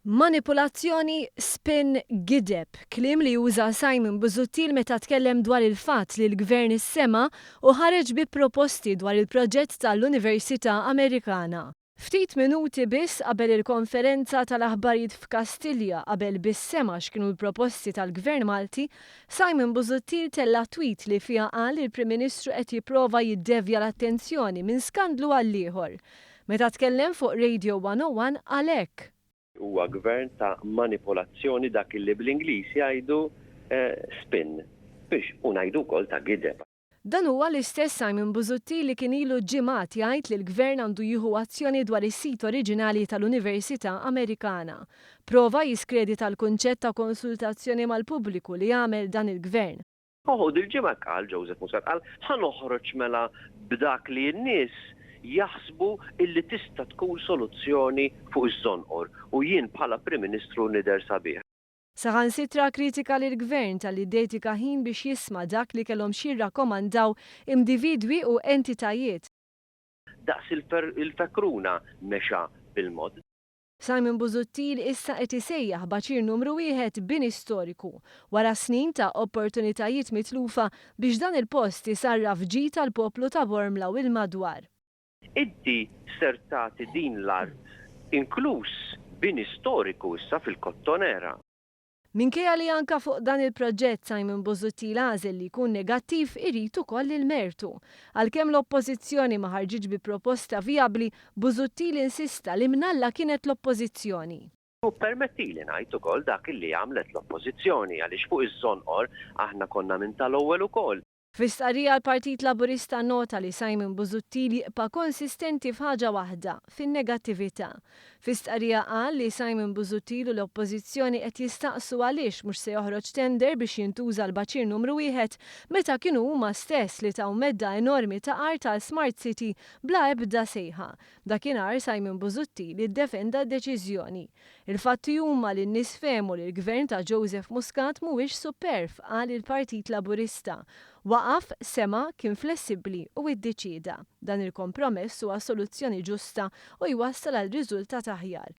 Manipulazzjoni, spin, gideb, kliem li uża Simon Busuttil meta tkellem dwar il-fatt li l-Gvern issema' u ħareġ bi proposti dwar il-proġett ta' l-Università Amerikana. Ftit minuti biss qabel il-konferenza ta' l-aħbarijiet f'Kastilja qabel biss sema' x'kienu l-proposti tal-Gvern Malti, Simon Busuttil tella' tweet li fiha qal li l-Prim Ministru qed jipprova jiddevja l-attenzjoni minn skandlu għall-ieħor. Meta tkellem fuq Radio 101 qal hekk. Huwa gvern ta' manipolazzjoni dak illi bl-Ingliż jgħidu spin biex u ngħidu wkoll ta' gideb. Dan huwa l-istess Simon Busuttil li kien ilu ġimgħat jgħid li l-gvern għandu jieħu azzjoni dwar is-sit oriġinali tal-Università Amerikana. Prova jiskredita l-kunċett ta' konsultazzjoni mal-pubbliku li għamel dan il-gvern. Oho, dil-ġimgħa qal, Joseph Muscat qal, ħa noħroġ mela b'dak li n-nies jaħsbu illi tista' tkun soluzzjoni fuq iż-żonqor u jien bħala Prim Ministru nidher sabiħ. Saħansitra kkritika lill-Gvern talli ddedika ħin biex jisma' dak li kellhom x'jirrakkomandaw imdividwi u entitajiet. Daqs il-fekruna mexa bil-mod. Simon Busuttil issa qed isejjaħ b'għaċir numru wieħed bini storiku, wara snin ta' opportunitajiet mitlufa biex dan il-post isarraf ġid għall-poplu ta' Bormla u l-madwar. Inti ser tagħti din l-art inkluż bini storiku issa fil-Kottonera. Minkejja li anka fuq dan il-proġett Simon Busuttil għażel li jkun negattiv irid ukoll il-mertu. Għalkemm l-Oppożizzjoni ma ħarġitx bi proposta vijabbli, Busuttil insista li mnalla kienet l-Oppożizzjoni. U ppermettili ngħid ukoll dak li għamlet l-Oppożizzjoni għaliex fuq iż-Żonqor aħna konna minn tal-ewwel ukoll Fi stqarrija l-Partit Laburista nnota li Simon Busuttil jibqa' konsistenti f'ħaġa waħda, fin-negattività. Fi stqarrija qal li Simon Busuttil u l-Oppożizzjoni qed jistaqsu għaliex mhux se joħroġ tender biex jintuża l-Baċir Numru Wieħed meta kienu huma stess li taw medda enormi ta' art għal Smart City bla ebda sejħa. Dakinhar Simon Busuttil iddefenda d-deċiżjoni Il-fatti huma li n-nies fehmu li l-Gvern ta' Joseph Muscat mhuwiex superv, qal il-Partit Laburista. Waqaf, sema', kien flessibbli u iddeċieda. Dan il-kompromess huwa soluzzjoni ġusta u jwassal għal riżultat aħjar.